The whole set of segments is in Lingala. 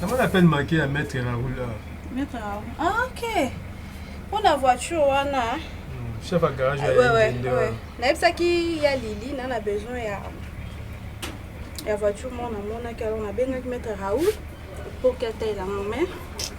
Namoni appel manqué ya maître Raoul. Maître Raoul. Ah OK. Pour la voiture wana. Hmm, chef à garage ya ouais, ouais, ouais. Nayebisaki ya Lili na na besoin ya ya voiture moko namonaki alors nabengaki maître Raoul pour qu'elle taille la main.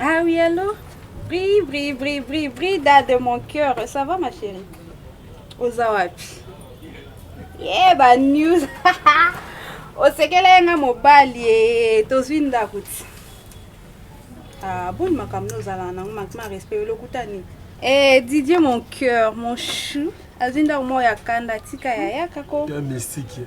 Ah oui, allô Bri, bri, bri, bri, Brida de mon cœur. Ça va, ma chérie Oza wapi Ye, ba news. Osekele ye nga mobali ye. Tozwi ndako ti. Ah, boni makambo nde ozalaka nango mankima respect yo lokuta nini Eh, Didier, mon cœur, mon chou. Azwi ndako moko ya kanda, tika ya yaka ko. Ya mystique.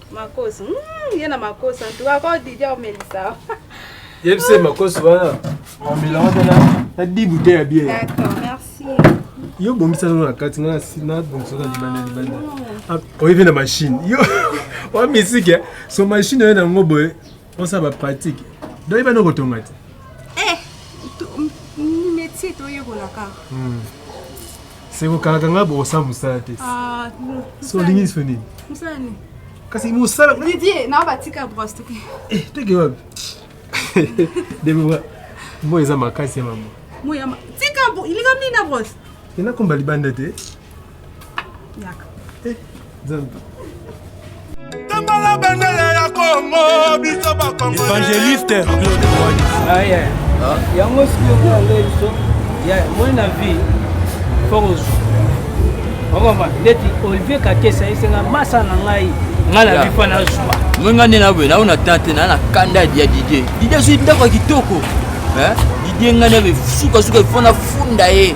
Makoso. Mm, ye na makoso. En tout cas, ko Didia omelisa. Yebise makoso wana. Omela wana na na dibu te ya bien. D'accord, merci. Yo bongisa no na kati na na bongisa na libanda libanda. Ah, oyebi na machine. Yo wa misike. So machine yo na ngo boye. Osa ba pratique. Doi bana kotonga te. Eh, ni métier to yekola ka. Hmm. Seko kalaka nga bo sa musala te. Ah, so lingi so nini? Musala nini? Kasi musala. Didier, na ba tika brosse to. Eh, to ke wapi? Debora, moi eza makasi ya maman. Moi ya ma. Tika bo, ilika mini na brosse. Ina komba libanda te. Yaka. Eh, Zambi. Tambala bendele ya Kongo biso ba Kongo. Evangeliste Claude Mwani. Ah yeah. Ah. Yango sikoyo kuna ngai biso. Yeah, moi na vie. Force. Okoma ndeti Olivier Kakesa esenga masa na ngai. Ngai na bifa na zuwa. Moi ngai na boye naona tante na na kanda ya Didier. Didier sui ndako kitoko. Hein? Didier ngai na suka suka ifona funda ye.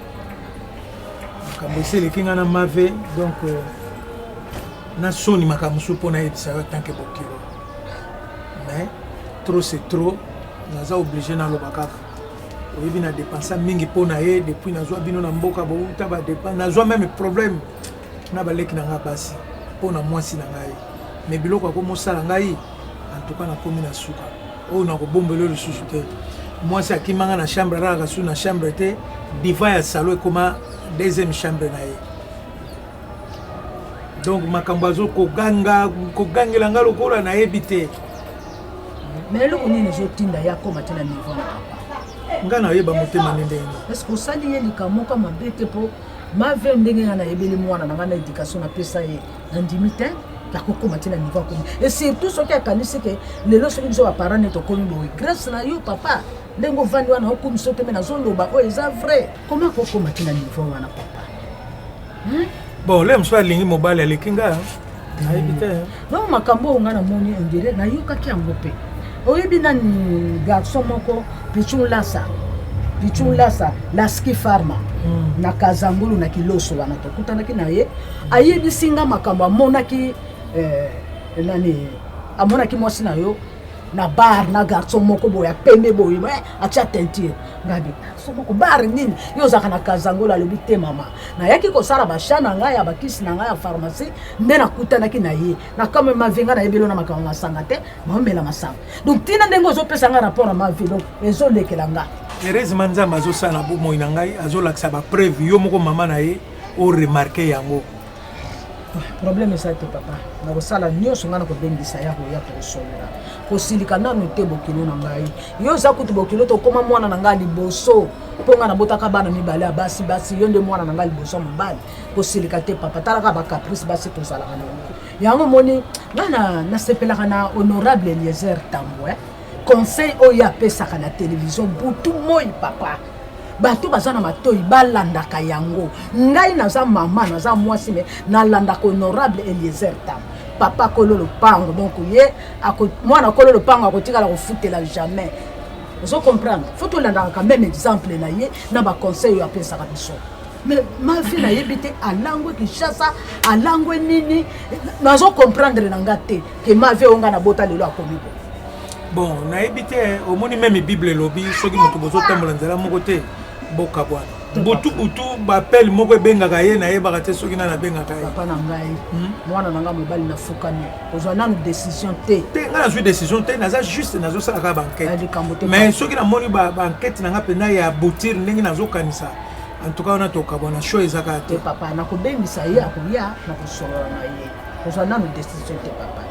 makambo esi eleki ngai na mave donc euh, na soni makambo mosusu mpo nayebisa yo atanke bokilo mais trop c'est trop naza oblige naloba kaka oyebi na dépensa mingi mpo na ye depuis nazwa bino na mboka bouta badepense nazwa meme problème na baleki na ngai basi mpo na mwasi na ngai mais biloko akomosala ngai en tout cas nakomi na suka oyo nakobombela yo lisusu te mwasi akima nga na chambre alalaka su na chambre te diva ya salo ekoma deuxième chambre na ye donc makambo azo koganga kogangela nga lokola nayebi te mais eloko nini ezotinda ye akoma te na niveau na papa nga nayeba motema nde ndenge parceke osali ye likamoko mabe te mpo mave ndenge nga nayebeli mwana na nga na éducation napesa ye nandimi te nakokoma ti na niveau akomi e surtout soki akanisi ke lelo soki biso baparent neti okomi boye grâce na yo papa ndenge ovandi wana okomi so te me nazoloba oyo eza vrai komi akokoma ti na niveau wana papa hmm? bon le mosusu alingi mobali aleki nga nayebi te donc makambo oyo nga namoni ondire nayokaki yango mpe oyebi nani garçon moko pichon lasa pichon lasa laski farma hmm. na kazangulu na kiloso wana tokutanaki na ye ayebisi nga makambo amonaki eh, nani amonaki mwasi na yo na bar na garçon moko boye ya pembe boye eh, atya teinture ngabi garçon moko bar nini yo ozalaka na kazangola alobi te mama nayaki kosala basha na ngai ya bakisi na ngai ya pharmacie nde nakutanaki na ye na kame mavi ngai nayebi elo na makambo masanga te maomela masanga donc ntina ndenge ozopesa ngai rapport ya mavi donc ezolekela ngai heureusement nzambe azosala bomoi na ngai azolakisa bapreuve yo moko mama na ye o remarke yango problème eza te papa nakosala nyonso ngai nakobengisa ya koya tokosolola kosilika nanu te bokilo na ngai yo oza kutu bokilo tokoma mwana na ngai liboso mpo ngai nabotaka bana mibale ya basi basi yo nde mwana na ngai liboso ya mobali kosilika te papa talaka bacaprice basi tozalaka na yango yango omoni ngai nasepelaka na honorable eliezer tambo eh? conseil oyo apesaka na televizio butu moi papa bato baza na matoi balandaka yango ngai naza mama naza mwasi me nalandaka honorable eliezer tam papa kolo lopango donc ye mwana kolo lopango akotikala kofutela jamais ozo comprendre fo tolandaka quand même exemple na ye na baconseil oyo apesaka biso mais mavi nayebi te alangwe kinshasa alangwe nini nazo comprendre na nga te ke mavi oyo nga nabota lelo akomi boye bon nayebi te omoni meme bible elobi soki moto bozotambola nzela moko te bokabwana butu butu bapele moko ebengaka ye nayebaka te soki nani abengaka ye papa na ngai hmm? mwana na ngai mobali nafukami ozwa nanu décision te te ngai nazwi décision te naza juste nazosalaka bankete mais soki namoni bankete na ngai mpenza ya boutire ndenge nazokanisa en tout cas wana tokabwana show ezaka te papa nakobengisa ye akoya nakosolola na ye ozwa nanu décision te papa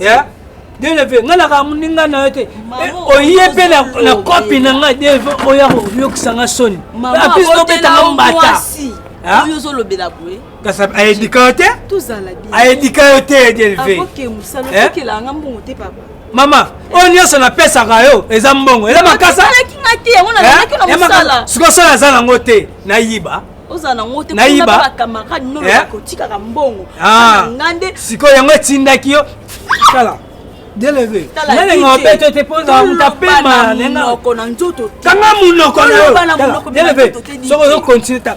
ya deleve ngai nakaa moninga na yo te oye mpe na kopi na ngai deleve oya koyokisa ngai soni apesi tobetanga mbata oyo ozolobela boye kasi ayedika yo te ayedika yo te deleve mama oyo nyonso napesaka yo eza mbongo eza makasa sikoyo sala aza nango te nayiba ozala na ngo te kuna ba camarade no eh? bakotikaka mbongo ah. nga nde sikoyo yango etindaki yo tala deleve nalenga obeto ete mpo ozala moto apema nengaoko na nzoto kanga monoko na yo deleve soki ozo continue ta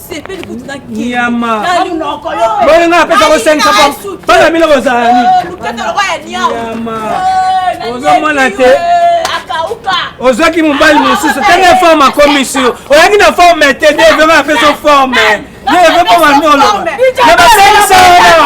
sepeli kutu na nyama boni nga apesa ko 500 bana bino bozala nini nyama ozomona te ozwaki mobali mosusu ntango ya forme akomi sur oyaki na forme te nde vraimen apesa forme ye vraimen bamandolo na basalisa wana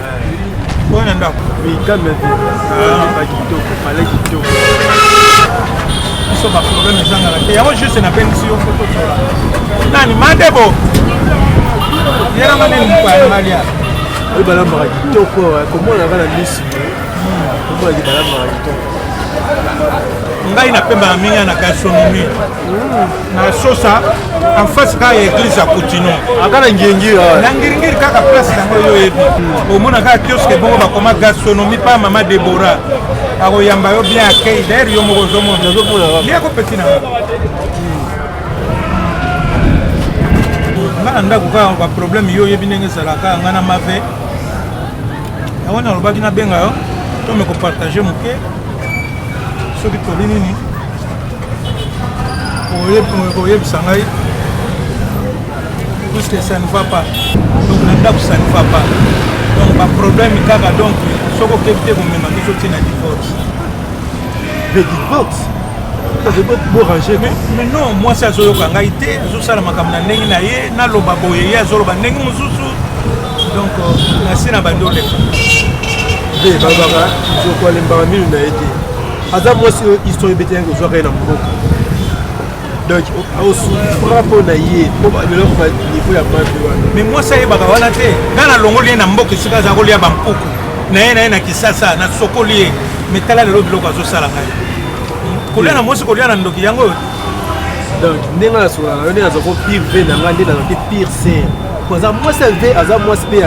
oyo na ndako mikame te ah, kitoko pale kitoko biso baproblème ezangaka te yango juste nabengisi yo foto tola nani madebo yelamani mukwayangalia oyo balambaka kitoko eh, komona kaka na misi komona balambaka kitoko ngai napembaka mingi na gastronomie na sosa en face kaka ya église ya kutino aka na ngiringira ah. na ngiringiri kaka place yango yo oyebi omona kaka kioske bongo bakoma gastronomie pa mama debora akoyamba yo bien akei daire yo moko ozomona ye akopesi na nga na ndako kaka baproblème yo oyebi ndenge ezalaka nga na mave yango nalobaki nabenga yo tome kopartage moke soki toli nini koyebisa ngai puisque ça ne va pas donc na ndako ça ne va pas donc baproblème kaka donc soki okebi te komema biso ntina divorce de divorce borange mais non mwasi azoyoka ngai te azosala makambo na ndenge na ye naloba boye ye azoloba ndenge mosusu donc euh, nasi na bandi oleka nde balobaka nzoko alembaka minu na ye te aza mwasi oyo histoire ebeteyaki ozwaka ye na mboka donc osufra mpo na ye mpo eloko banivo ya mabe wana mais mwasi ayebaka wana te ngai nalongoli ye na mboka esika aza kolia bampuku na ye na ye na kisasa nasokoli ye mais tala lelo biloko azosala ngai kolia na mwasi kolia na ndoki yango oyo donc ndenge nasolaka yo nde naza ko pire ve na ngai nde nazaki pire ser aza mwasi ya ve aza mwasi mpe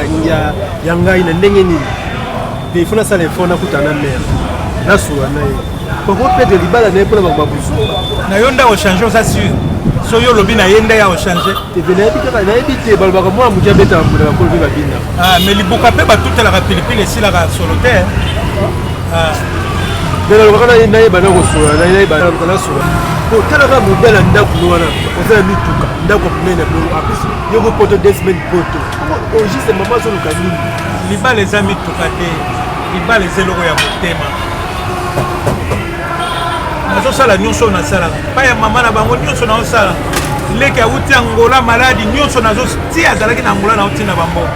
ya ngai na ndenge nini te il faut nasala effort nakuta na mère nasula na ye koko pede libala na ye mpona bango babuzuba na yo nde ochange oza sur so yo olobi na ye nde ya ochange teve nayebi kaka nayebi te balobaka mwana moke abetaka mbula bakolo mpe babina ah, mais libuka mpe batutelaka pilipili esilaka solo te mais nalobaka nayeba na kosola nayeba nasola otalaka mobe na ndako wana oza na mituka ndako monene bongo apesi yo ko poto desmen poto o juste mama azoluka nini libala eza mituka te libala eza eloko ya motema nazosala nyonso nasalaka epai ya mama na bango nyonso naosala leki awuti angola maladi nyonso nazotia azalaki na angola nauti na bango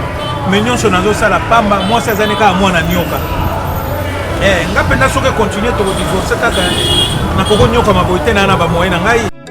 me nyonso nazosala pamba mwasi azali kaka mwana nyoka eh, nga mpenza soki ekontinue tokodivorce kaka nakokonyoka maboyi te naa na bamoye na ngai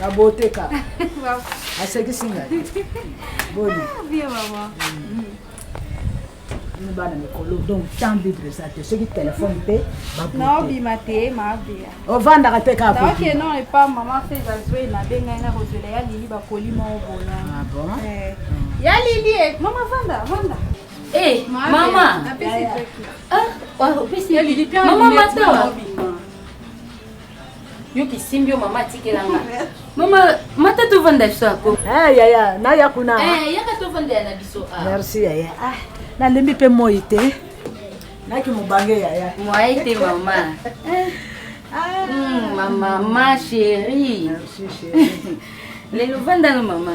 na boteka asekisi ngai boni ah, mm. mm. bana mikolo donc temps libre eza te soki telefone mpe naobima te mabia ovandaka te kakaoke non epa mama fe ezazwei nabe ngai nakozwela ya lili bakoli moko bola ah eh. mm. ya lili eh, mama vanda vanda eh, mama ah, opesi mama matawa Yo kisimbi yo mama atikela nga. Mama mata to vanda biso ako. Eh yaya na ya kuna. Eh yaka to vanda ya na biso. Ah. Merci yaya. Ah na lembi pe moyi te. Na ki mubange yaya. Moyi te mama. ah mm, mama ma chérie. Merci chérie. Lelo vanda no mama.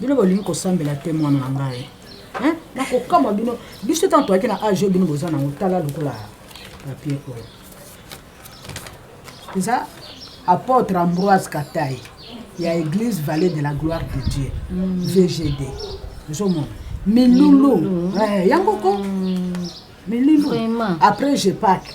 bino bolingi kosambela te mwana na ngai hein nakokamwa bino biso ntango toyaki na age oyo bino boza nango tala lokola papier oyo eza apôtre ambroise katai ya église vallée de la gloire de dieu mm. vgd ozomona milulu mm. eh, yango ko mm. milulu après je pake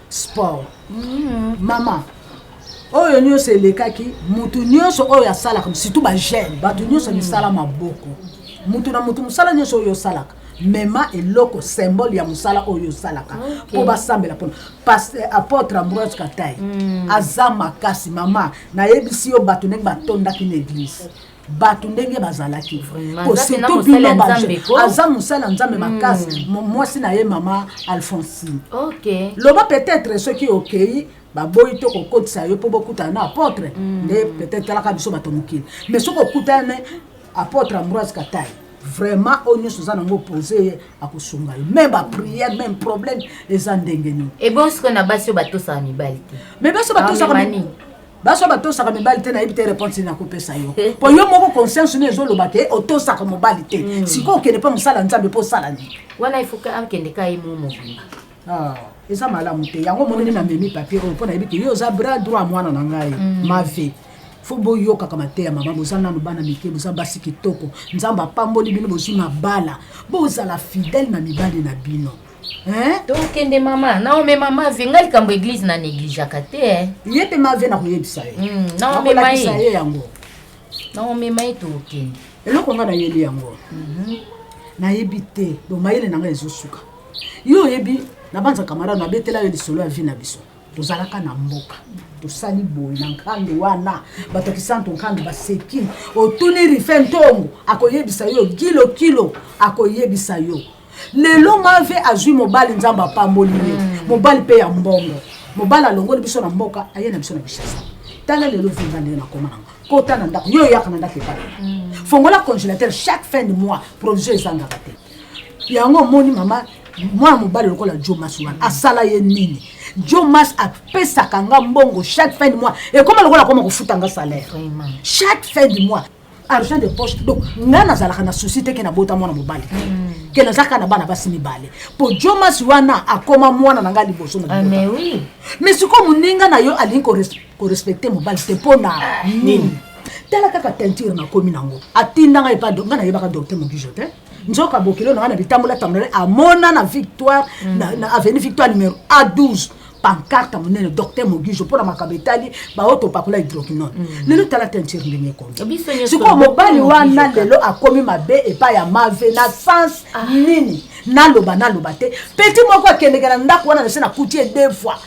sport mama oyo nyonso elekaki motu nyonso oyo asalaka surtout bajeune bato nyonso misala mm. maboko motu na motu mosala nyonso oyo osalaka mema eloko symbole ya mosala oyo osalaka mpo basambela mpona eh, apôtre ambroise katai mm. aza makasi mama nayebisi yo bato ndenge batondaki na eglise bato ndenge bazalaki surtout bino aza mosala nzambe hmm. makasi mwasi na ye mama alphonsine loba peut-être soki okei baboyi to kokotisa yo mpo bokutana na apotre hmm. nde peut-être talaka biso bato mokili mais soki okutana apotre ambroise katai vraiment oyo nyonso oza nango opose ye akosunga yo meme bapriere meme problème eza ndenge nini ebongi sikoyo na basi oyo batosaka mibali te mais basi oyo batosaka baso batosaka mibali te nayebi te réponse nini nakopesa yo mpo yo moko conscience no ezoloba te otosaka mobali te hmm. sikoyo okende mpo mosala nzambe mpo osala nini wana ifoke akende ka ye mo mobimba ah, eza malamu te yango omoneli na memi papier oyo mpo nayebi te yo oza bras droit mwana na ngai hmm. ma vie fo boyokaka mateya mama boza nanu bana mike boza basi kitoko nzambe apamboli bino bozwi mabala bozala fidèle na mibali na bino Hein? tokende mama naome mama vie ngai likambo eglize na negligaka te eh. ye mpe mavie nakoyebisa ye Mm, naomema nakolakisa ye ye yango naomema ye tokende eloko ngai nayebi yango nayebi te bo mayele na ngai ezosuka yo oyebi nabanza kamarade nabetela yo lisolo ya vi na biso tozalaka na mboka tosali boye na nkandu wana bato ya kisanto nkandu baseki otuni rife ntongo akoyebisa yo kilo kilo akoyebisa yo lelo mave azwi mobali nzambe apamboli ye mm. mobali mpe ya mbongo mobali alongoli biso na mboka aye na biso na bishasa tala lelo vinga ndenge nakoma nanga kota na ndako yo oyaka na ndako epai mm. fongola congélateur chaque fin de mois provision ezangaka te yango omoni mama mwana mobali lokola jomas wana asala ye nini jomas apesaka nga mbongo chaque fin de mois ekoma lokola akoma kofuta nga salaire chaque fin de mois argent de poche donc ngai nazalaka na souci te ke nabota mwana mobali te mm. ke naza kaka na bana basi mibale mpo jomas wana akoma mwana na ngai liboso na ah, mais sikoyo moninga na yo alingi korespecte mobali te mpo na ah, nini tala kaka teinture nakomi nango atinda ngai epa ngai nayebaka docteur mobijo te nzoka bokilo na ngai na bitambola tambola amona na victoire mm. na avenue victoire numero a 12 pancarte monene docteur mogijo mpo na makambo etali baoyo topakola hydroquinone mm. lelo tala teinture ndenge ekomi sikoyo mobali wana lelo akomi mabe epai ya mave na sens ah. nini naloba naloba te peti moko akendeke na ndako wana nase nakuti ye deux fois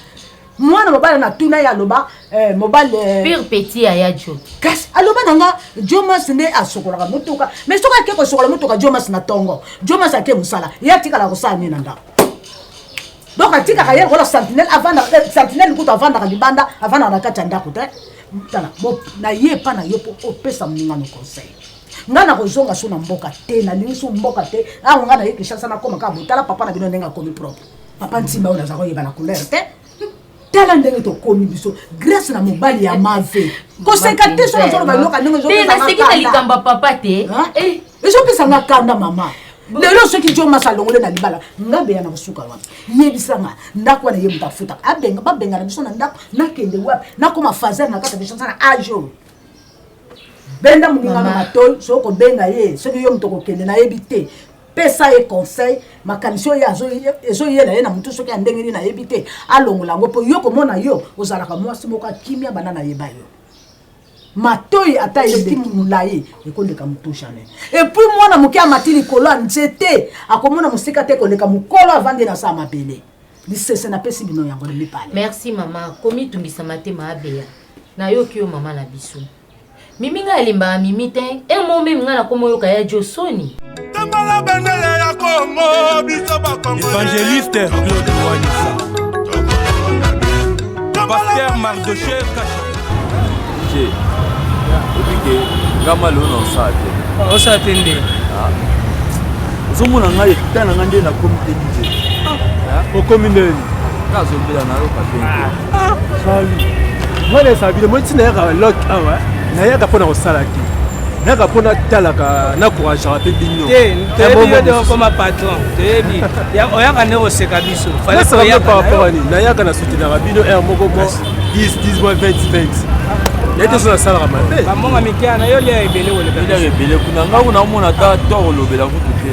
mwana mobali natuna ye aloba eh, mobali eh. pire petit aya jo kasi aloba na nga jomas nde asokolaka motuka mais soki ake kosokola motuka jomas na tongo jomas ake mosala ye atikala kosala nini na ndako donc atikaka ye lokola sentinelle avandaka eh, sentinelle kutu avandaka libanda avandaka na kati ya ndako te tala na ye epa na yo mpo opesa moningano conseil ngai nakozonga so na mboka te nalingi so mboka te awa ngai naye kinshasa nakoma kaka botala papa na bino ndenge akomi propre papa nsimba oyo naza koyeba na couleur te tala ndenge tokomi biso grâce na mobali ya mave koseka te so nazoloba eloko ndenge ezopesanga na likambo ya papa te eh. ezopesa nga kanda mama lelo soki jo masa alongole na libala nga beya na kosuka wapi yebisa nga ndako wana ye moto afuta abenga babengana biso na ndako nakende wapi nakoma fazer na kaka biso sana ajo benda moninga na matoi soki kobenga ye soki yo moto kokende nayebi te pesa ye conseil makanisi oyo ezoyela ye na motu soki ya ndenge nini nayebi te alongola yango mpo yo komona yo ozalaka mwasi moko akimia banda nayeba yo matoi ata eleki molai ekoleka motu jamais epuis mwana moke amati likolo ya nzete akomona mosika te koleka mokolo avandi na saa mabele lisese napesi bino yango na mibale merci mama komitungisa matema abeya nayoki yo mama na biso Mimi nga alimbaka Mimi te un mot meme nga na komo yoka ya Joe Sony Tambala bendele ya Congo biso ba Congo Evangeliste Claude Wanisa Pasteur Mardochee Kacha Je Obike ngama leo na osala te osala te nde ah. ozomona ngai eta na ngai nde nakomi te dije ah. okomi ndeni kazobela nayoka te Ah, mwana ya sabine moi ntina yaka lok awa nayaka mpo na kosala te nayaka mpo natalaka nakourageaka mpe bino toyebiokoma patron toyebi oyaka nde koseka biso nasalaka par rapport ani nayaka na soutenaka bino r moko mo 10 10 mois 20 20 naye te so nasalaka mabe bambonga mikeya na yo lia ebele koleka ebele kuna ngai kuna omona ata toro olobela kutu te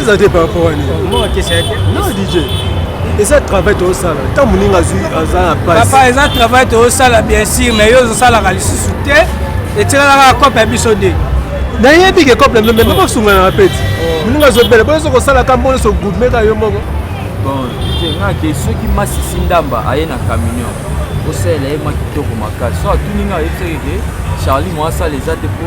eza te par rapport ani non dj eza travail tozosala nta moninga azwi aza na papa eza travail tozosala bien sûr mais yo ozosalaka lisusu te etikalaka cope ya biso de nayebi ke cope meme mpe basunganaka peti oh. moninga azobela boyo ozo kosalaka mbo nyonso gudmeka yo moko bon ngake soki masisi ndamba aye na camion osalela ye mwa kitoko makasi so atuni ngai ayebisaki ke charlie moasala eza te po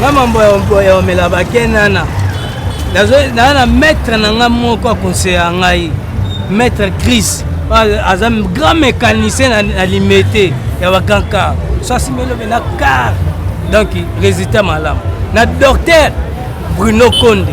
nga mambo ya omela bakenana naa na maître na nga moko akonseya ngai maître cris aza grand mécanicien na limete ya bagrand car so asimelobe na car donc résultat malamu na docteur bruno konde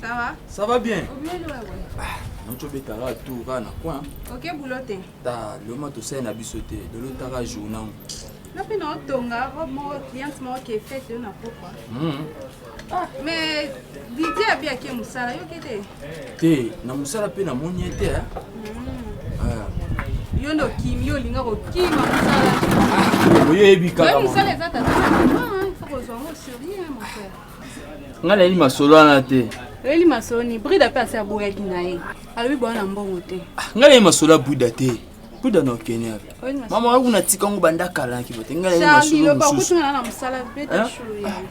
Ça va Ça va bien Obele wewe Ah, nocobetaka tour kaka na coin Ok boulot te Ta loma tosali na biso te dolotaka jour nango Nga mpe naotonga robe moko cliente moko ke fete yo na pokwa hmm. ah, Mais Didi abi ake mosala yoki te Te na mosala mpe namoni ye te eh? hmm. ah. yo nde okimi yo olinga kokima mosala ah, oyebi kaka mosala eza tata na mama il faut kozwa ngo sérieux mon frère nga nayeli masolo wana te oyeli masolo ni brida mpe asi aboyaki na ye alobi boya na mbongo te ah, nga nayeli masolo ya brida te brida na okenia mama waku natika yango banda kala na kibote nga nayeli masolo mosusu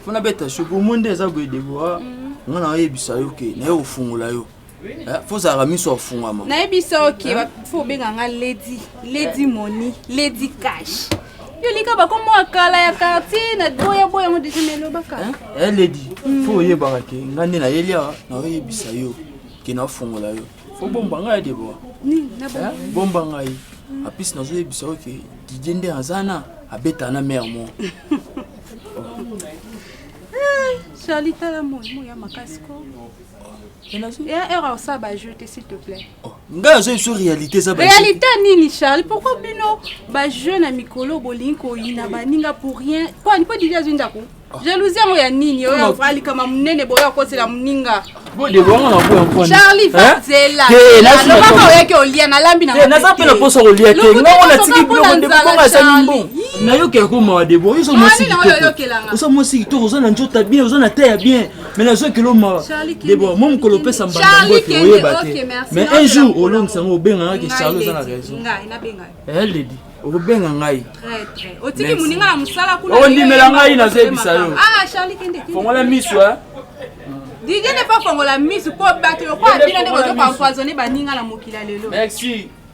mpo nabeta sho bomo nde eza boye deboa mhm. nga na oyebisa yo ke naye ofungola yo Eh, fo ozalaka miso afungama nayebi soki eh? fo obenga nga ledi ledi eh. moni ledi cash yo lika bakombo ya kala ya quartier na boyaboya yango deja na elobaka ledi hmm. fo oyebaka ke nga nde nayeli awa naoyebisa yo ke naofungola yo fo bomba ngai deboa bomba ngai apesi nazoyebisa yo ke didie nde aza na abeta na mare mo charli tala moi moi ya makasi ko ngai aza biso réalité eza réalité nini charles pourquoi bino bajeune ya mikolo bolingi koyina baninga pour rien mpo didi azwi ndako ah. jalousie yango ya nini oyo alikama monene boyo akotela moninga charlie vazela alobaka oyaki olia nalambi naza mpe na mposa kolia te ngai ona tiki biloko nde bonga ezali mbongo nayokela ko mawa debo oza mwasi kitoko oza mwasi kitoko oza na njota bien oza na te ya bien mais nazwa kilo mawa debora mo mokolo opesa mbanda mbote oyeba te mais un jour olongisa yango obengaka ke charle oza na raison eledi okobenga ngai ondimela ngai nazoyebisa yo fongola miso didie ne pas fongola miso mpo bato lokola bino nde bozoka empoisonne baninga na mokili ya lelo merci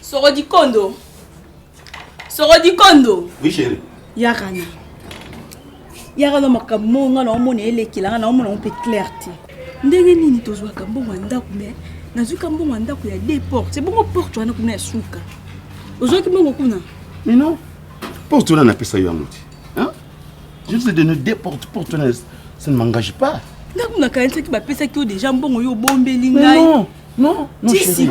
Soro di kondo. Soro di kondo. Oui, chérie. Yarana. Yarana makambo moko ngai naomona elekela ngai naomona yango mpe clair te ndenge nini tozwaka mbongo ya ndako me nazwika mbongo ya ndako ya de porte ebongo porte wana kuna ya suka ozwaki mbongo kuna mino porte wana napesa yo yango te Hein? Je vous ai donné des portes pour ton ça ne m'engage pas. Nako na kanisa ki ba pesa ki déjà mbongo yo bombeli ngai. Non, non, non chérie.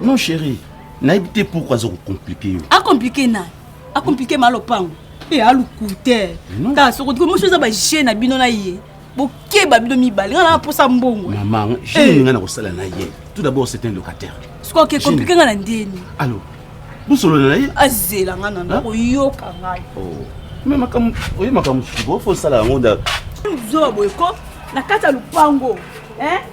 Non chérie. Na habité pourquoi ça compliqué. A ah, compliqué na. A ah, compliqué malopango. Et a lokuter. Ta soko ko mo chose ba jeu na bino na ye. bokeba bino mibale nga na posa mbongo eh. mama jini eh. nga na kosala na ye tout d'abord c'est un locataire sikoyo ke komplike nga na ndeni allo bosolola na ye azela nga na ndako yoka ngai oh. me makambo oye makambo mosusu bofo osala yango da zoba boye ko na kati ya lopango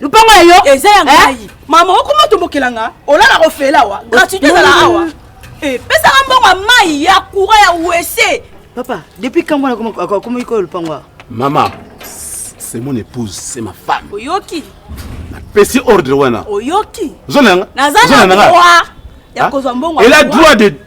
lupango ya yo eza ya ngai mama okoma tombokela nga olala kofela awa gratuité ezala awa pesaka mbongo ya mai ya courant ya wese papa depuis kambo akomaki koyo lupango awa mama c'est mon épouse c'est ma femme oyoki napesi ordre wana oyoki zona yanga naza na droit ya kozwa mbongo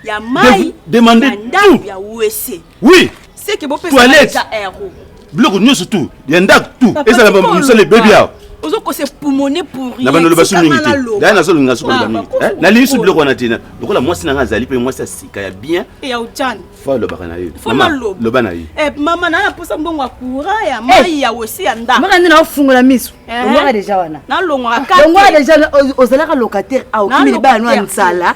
ya mai ya ndako ya wese oui seke bopesa ero biloko nyonso tu ya ndako tu ezala mosala ebebi awa ozokosa epumone pourina bando loba soki mingi te daya nazolinga soki loba mingi eh, nalingi soki biloko wana te lokola mwasi na ngai azali mpe mwasi ya sika ya bien eh, fo alobaka na ye loba na ye eh, mama naa naposa mbongo ya courant ya mai ya osi ya ndako maka nde naofungola miso longwaka deja wana nalongwaka deja ozalaka locataire aokimi libala no ya nsala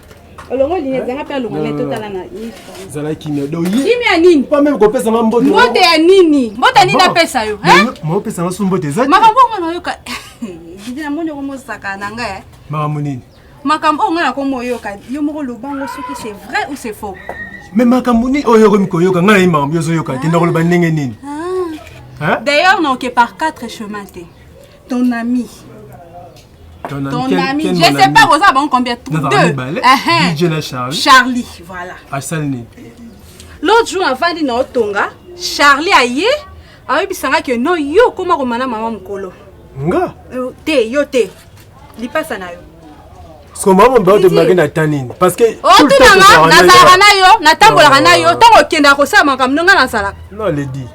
zala kimia kimia nini pameme kopesa nga mbote mbote ya nini mbote ya nini napesa yo mopesa nga su mbote eza makambo yango nayoka namoni yango mosaka na ngai eh. makambo nini makambo oyo ngai nakomi oyoka yo moko loba yango soki c'est vrai ou c'est faux me makambo nini oyo okomi koyoka ngai nayi makambo yo ozoyoka te ndakoloba ndenge nini ah. d'ailleurs naoke par quatre chemin te ton ami Ton, ton quel, ami, quel je sais ami? pas boza bango combien tout deux. Uh-huh. DJ na Charlie. Charlie, voilà. Asali nini? L'autre jour avandi na otonga, Charlie aye ayebisa nga que non yo okoma komana mama mokolo. Nga? Euh, te, yo te. Lipasa na yo. soma mombe otemaki na ta nini parceke otunanga nazalaka na yo natambolaka na yo ntango okendaka kosala makambo ndonga nazalaka non ledi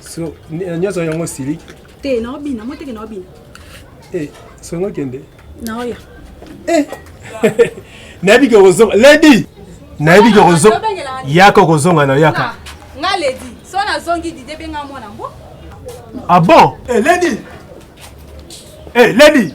So, nyoso yango siliki. Te, na obina, mo teke na obina. Eh, songo kende. Na oya. Eh. Nabi ke kozonga. Lady. Nabi ke kozonga. Yaka kozonga na yaka. Ah, nga lady. So na zongi dide benga mwana mbo. Ah bon? Eh, lady. Eh, lady.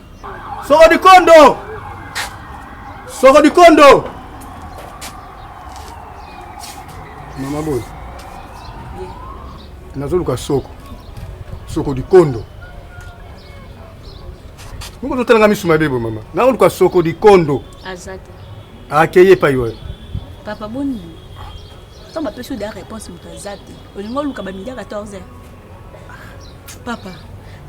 Soko Dikondo Soko Dikondo Mama boy nazoluka soko soko Dikondo moko totalanga misu mabe boye mama nakoluka soko Dikondo aza te akeye epai wayo papa boni ntango bapesi yo da réponse moto aza te olingi oluka bamidi ya 14 heure papa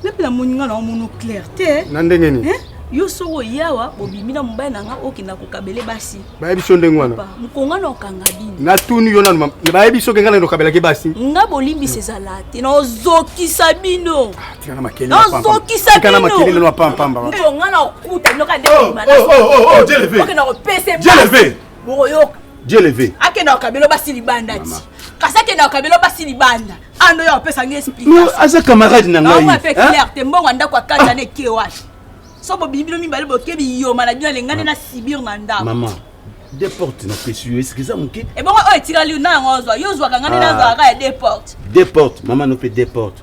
nape namoni nga na omono clair te na ndenge nini eh? yo soko oyawa bobimi na mobali na nga okenda kokabele basi bayebi so ndenge wana mokonga na okanga bini natuni yo nanu bayebi soki ngai nani okabelaki basi nga bolimbisi ezala te nazokisa bino nazokisa binomokonga na okuta nokadekenda kopesa bokoyoka je leve akendaka kabelo basi libanda ti kasi akendaka kabelo basi libanda ando ah, ya opesa ngai explication aza camarade na ngai ape eh? clair te mbongo andako akata na eke wapi so bobimi bino mibale boke biyoma na bino alengani na sibir na ndako mama de porte na pesi yo esiki eza moke ebongo oyo etikali na yango ozwa yo ozwaka ngani nazwaka ya de porte de porte mama no mpe de porte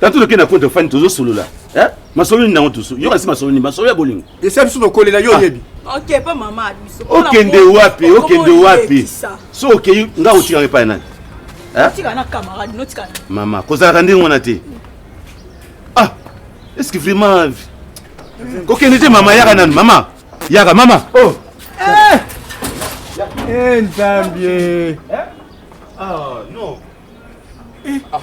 Tatu loke na konto fani tozo solola. Eh? Masolo ni nango tusu. Yo kasi masolo ni masolo ya bolingo. Esa biso tokolela yo ah. yebi. Okay, pa mama biso. Okende wapi? Okende wapi? So okei nga otika epai nani? Eh? Otika na camarade, notika. Mama, kozalaka ndenge wana te. Ah! Est-ce que vraiment kokende te mama yaka nanu mama yaka mama oh eh, eh nzambi eh? ah non Eh, ah.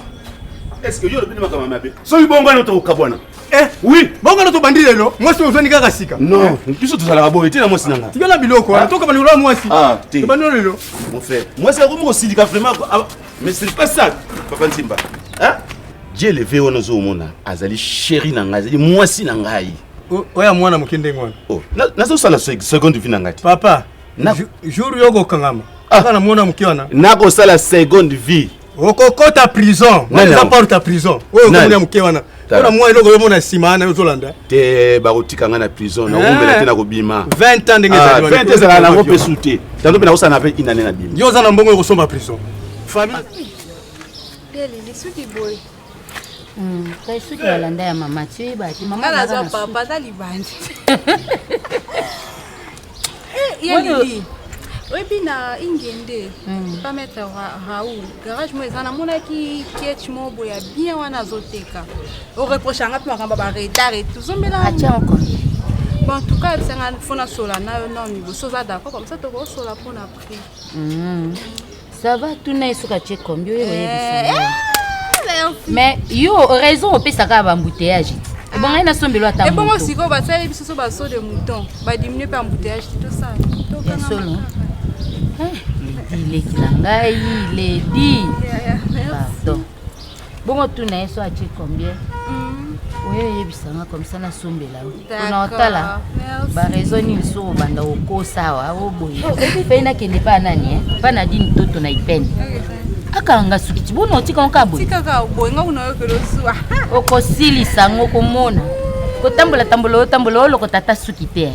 Est-ce que yo le bini makama mabe? Soki bongo wana tokokabwana. Eh oui, bongo wana tobandi lelo, mwasi ozwani kaka sika. Non, eh. biso tozalaka boye te na mwasi na nga. Tikala biloko wana, ah. toka bandeko na mwasi. Ah, te. Tobandi lelo. Mon frère, mwasi akomi kosilika vraiment. Ah, mais c'est pas ça, Papa Nsimba. Hein? Dieu le veut wana ozomona, azali chéri na ngai, azali mwasi na ngai. Oya mwana moke ndenge wana. Oh, nazosala seconde vie na ngai te. Papa, Na- Jou- jour yo okokangama Ah. aka namona moke wana nakosala seconde vie okokota prison Nani wana eza yango? porte ya prison oyo Nani? okomona moke wana Tala. mpona mwa eloko yomona nsima wana ozolanda te bakotika ngai na prison Eh. nakoumela te nakobima 20 ans ndenge Ah, ezali wana. 20 ezalaka nango mpe su te tando mpe nakosala na 20 inane na bima yo oza na mbongo okosomba prison famille Lele, lisuki boye. Hmm, kasi soki balanda ya mama ti oyeba te mama naza papa aza libandi eh, oyebi na ingende hmm. pa maître raoul garage mo eza namonaki kiech mo boya bien wana azoteka oreproche anga mpe makambo ba retard et tozombela bon en tout cas yebisa nga mpo nasola nayo nao liboso oza d'accord comme ça tokosola mpo na prix hmm. Ça va tuna ye soki atie kombi oyo oyebisa eh, eh, mais yo raison opesaka bambouteillage ti ah. ebonga ye nasombelo ata ebongo sikoyo basali biso so baso de mouton badiminue mpe embouteillage ti tosala ya solo eh, leki na ngai ledi pardon bongo tuna ye so atie combien oyo oyebisa nga komisa nasombela yo mpona otala barezo nini so obanda okosa awa oboye mpe nakende mpa nani eh? mpa na dini toto na ipene akanga suki ti bona otika ngo kaka boye okosilisa ngo komona kotambola tambola otambola olokota ata suki te eh?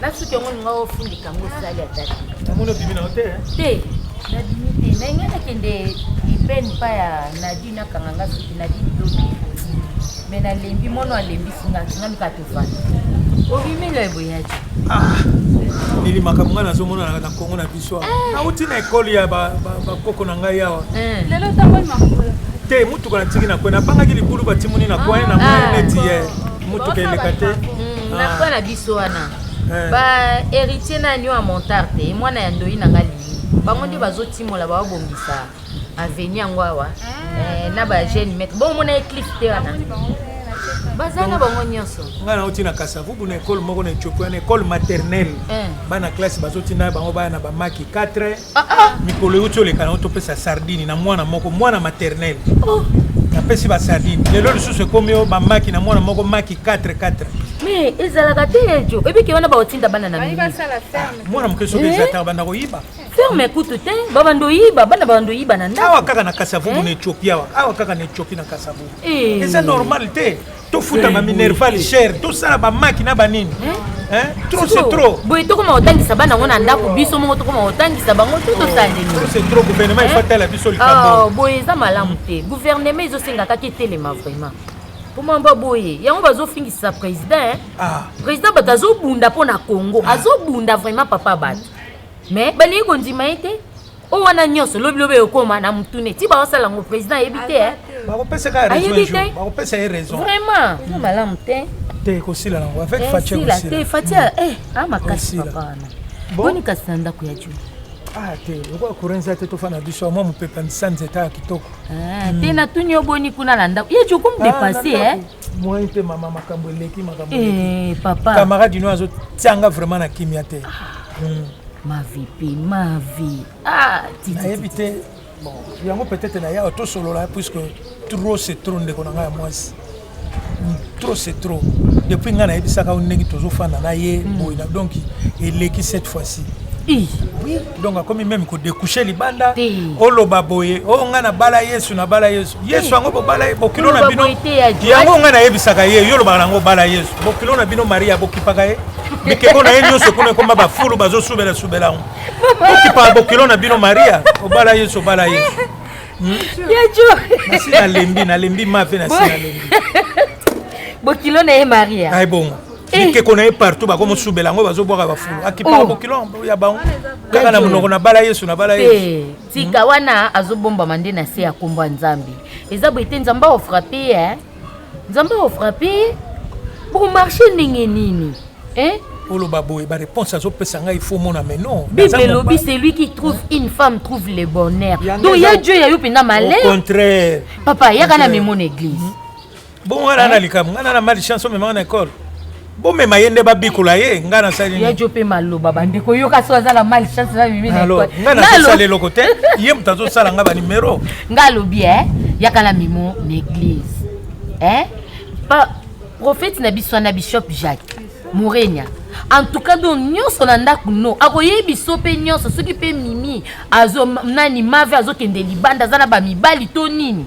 Na suki yango linga ofundika yango osali ata te. Namoni obimi na yo te? Te, nabimi te. Na ngai nakende libeni mpa ya Nadi nakanga nga suki Nadi bilobi. Me nalembi mono alembisi nga nga luka tofanda. Obimi loye boyaki. Ah, Lili makambo nga nazomona na Congo na biso. nauti na ekole ya bakoko na ngai awa eh. lelo otamboli makolo te motuka natiki na kwe nabangaki libulu batimuni na kwe na moni ah. neti ye motuka eleka te hmm, na kwe na biso wana eh. ba héritier nani oyo ya montarte mwana ya ndoi na ngai bango nde bazotimola bababongisa aveni yango awa eh, na ba jeune maître bo omona ye cliff te wana baza na bango nyonso ngai nauti na kasavubu na ekole moko na etiopi wana ekole maternelle eh. bana classe bazotinda bango baya na bamaki 4 ah, ah. mikolo euti oleka nango topesa sardini na mwana moko mwana maternelle oh. napesi basardine lelo lisusu ekomi yo bamaki na mwana moko maki 4 4 mais ezalaka te ejo ebiki wana baotinda bana na mwana moke soki ezataka eh? banda koyiba ferme kutu te babanda oyiba bana babanda oyiba na ndako awa kaka na kasavubu eh? na ethiopie awa awa kaka na ethiopie na kasavubu eh. eza normal te tofuta eh, baminerval cher tosala bamaki na banini trop c'est trop boye tokoma kotangisa bana yango na ndako biso moko tokoma kotangisa bango to tosalelitro gouvernement efatala biso likambo ah, boye eza malamu te gouvernement ezosenga kaka etelema vraiment mpoma mba boye yango bazofingisa président ah. président bato azobunda mpo na congo ah. azobunda vraiment papa bato mais balingi kondima ye te oyo wana nyonso lobilobi ekokoma na motu ne ti baosala yango président ayebi te eh. ayebi te vraiment eza malamu te te ekosila nango avec eh, fatia ekosila te fatia eh ah makasi papa wana boni kasi na ndako ya juu ah te lokola courant eza te tofanda na biso mwa mopepe ya misanza etaya kitoko ah, te natuni yo boni kuna na ndako ye jokomu depasse e Moi mpe mama makambo eleki makambo eleki. Eh, papa. Camarade ino azo tianga vraiment na kimia te. Ah. Hmm. Ma vie pe ma vie. Ah, titi. Nayebi te. Bon, yango peut-être na yawa tosolola puisque trop c'est trop ndeko na ngai ya mwasi. Hmm, trop c'est trop. Depuis ngai nayebisaka yo ndenge tozofanda na ye hmm. boye na donc eleki cette fois-ci. Oui. donc akomi meme kodecouche libanda oloba boye o oh, ngai nabala yesu nabala yesu yesu yango bobala ye bokilo na bino yango ngai nayebisaka ye yo olobaka nango obala yesu bokilo na bino maria bokipaka ye mikeko na ye nyonso kuna ekoma bafulu bazosubela subela yango bokipaka bokilo na bino maria obala yesu obala yesu hmm? nasi nalembi nalembi mafe nasi nalembi bokilo na ye maria ai bongo Eh. bikeko na ye partout bakomosubela yango bazobwaka bafulu ah. akipaka oh. bokilo ya bango kaka na monoko na bala yesu na bala yesu eh, tika hmm. wana azobombama nde na se ya nkombo ya nzambe eza boye te nzambe aofrape ye eh. nzambe aofrape ye bokomarche ndenge nini oloba boye baréponse azopesa ngai faut mona mais non bible elobi celui qui trouve une femme trouve le bonheur donc ya dieu ya yo mpenza malheur contraire papa yaka na memo na église hmm. Bon wana na likambo ngana na mali chance omema na école bomema ye nde babikola ye ngai nasali ya jo mpe maloba bandeko yoka so aza na mali chance na mimi ngai nazosala eloko te ye moto azosala ngai banimero ngai alobi e yaka na mimo na église e prophète na biso wana bishop jacques morenia en tout cas donc nyonso na ndako no akoyebi biso mpe nyonso soki mpe mimi azo nani mave azokende libanda aza na bamibali to nini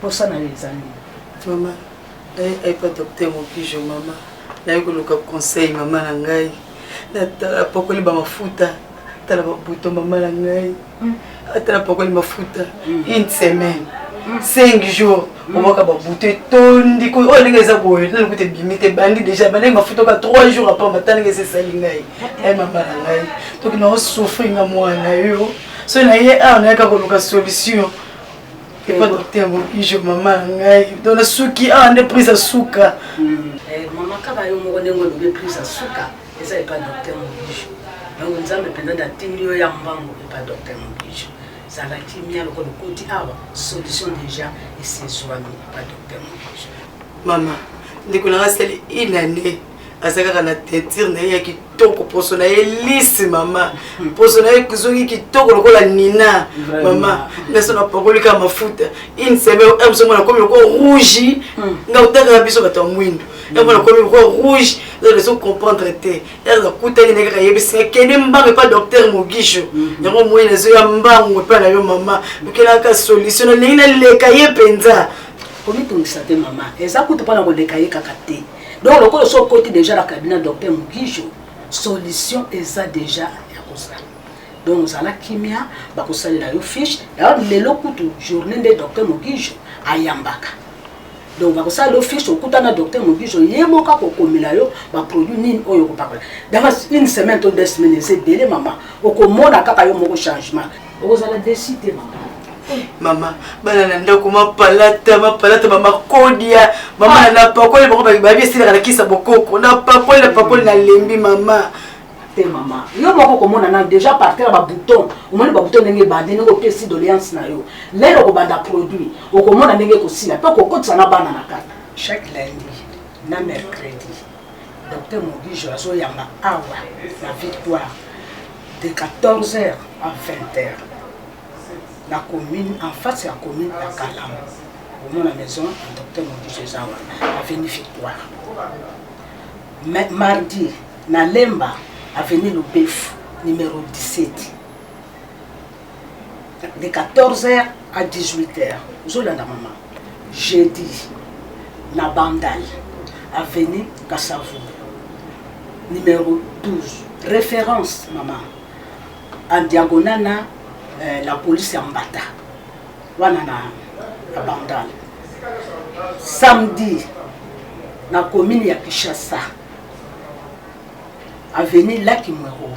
Posa na yo eza nini? Mama, naye aipa docteur Mokijo mama. Naye koluka conseil mama na ngai. Natala pokoli ba mafuta, tala ba buto mama na ngai. Hmm. Atala pokoli mafuta hmm. une semaine. 5 hmm. jours omwaka babutu etondi oyo oh, ndenge eza boye nani kuta ebimi te ebandi déjà bandenge mafuta oka 3 jours apamba ta ndenge eza esali ngai eh, eh. ai mama na ngai toki na osouffri nga mwana yo soki naye awa nayaka koluka solution epa docteur mokijo mama ya ngai to nasuki awa nde prise ya suka hmm. eh, mama kaba yo moko ndenge olobi prise ya suka eza epa docteur mokijo donc nzambe mpenza natindi yo ya mbango epa docteur mokijo zala kimia lokola okoti awa solution déjà esezwami epa docteur mokijo mama ndeko nanga sali inane aza kaka na teinture na ye ya kitoko poso na ye lisi mama hmm. poso na ye ezongi kitoko lokola nina mama naso napakoli kaka mafuta une semaine eh, msongo nakomi lokola rouge hmm. nga otangaka biso bato ya mwindo hmm. yango nakomi lokola rouge ezo comprendre te ere nakutani naye kaka yebisi akende mbango epa docteur mogisho yango moyi nazoya mbango epa na yo mama okelaka solution nalingi naleka ye mpenza komitungisa te mama eza kutu mpona koleka ye kaka te donc lokola osi okoti deja na cabinet docteur mugisho solution eza deja ya kozala donc ozala kimia bakosalela yo fiche daor lelo kutu journée nde docteur mugisho ayambaka donc bakosala yo fiche okuta na docteur mugisho ye moko akokomela yo baproduit nini oyo okopakola dans une semaine to deux semaines eza ebele mama okomona kaka yo moko changement okozala desi te mama eh, mama bana na ndako mapalata mapalata bamakodia mama ah. napakoli bango babi esilaka na kisa bokoko napakoli napakoli nalembi mama te mama yo moko komona na déjà partir ya babouton omoni babouton ndenge ebandi ndenge opesi doléance na yo lele okobanda produit okomona ndenge ekosila mpe okokotisa na bana na kati chaque lundi na mercredi Docteur Mogijo azo yamba awa na victoire de 14 heures à 20 heures na commune en face ya commune ya Kalamu omona maison ya docteur Mogijo eza wana avenue victoire Ma mardi na Lemba avenue Lubefu numéro 17 de 14 heures à 18 heures ozolanda mama jeudi na bandal avenue kasavu numéro 12 référence mama en diagonale na euh, la police ya mbata wana na, na bandal samedi na commune ya kinshasa avenue laki mwero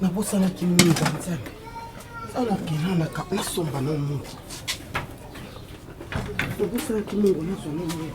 nabosanaki mingi banzambe anakelanaka nasomba na mungu nabosanaki mungu nazwa na mungu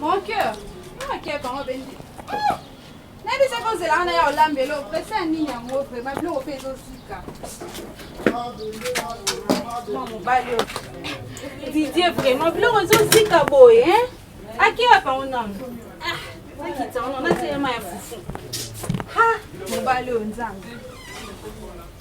Mon cœur, ah quel parent benji. Ah! Nabi sa ko zela na ya olambelo, pesa nini yango vraiment biloko pe ezo sika. Mwa mobali oyo. Didier vraiment biloko ezo sika boye, hein? Aki ya pango nanu. Ah, nakita wana na teyema ya fufu. Ha, mobali oyo nzambe.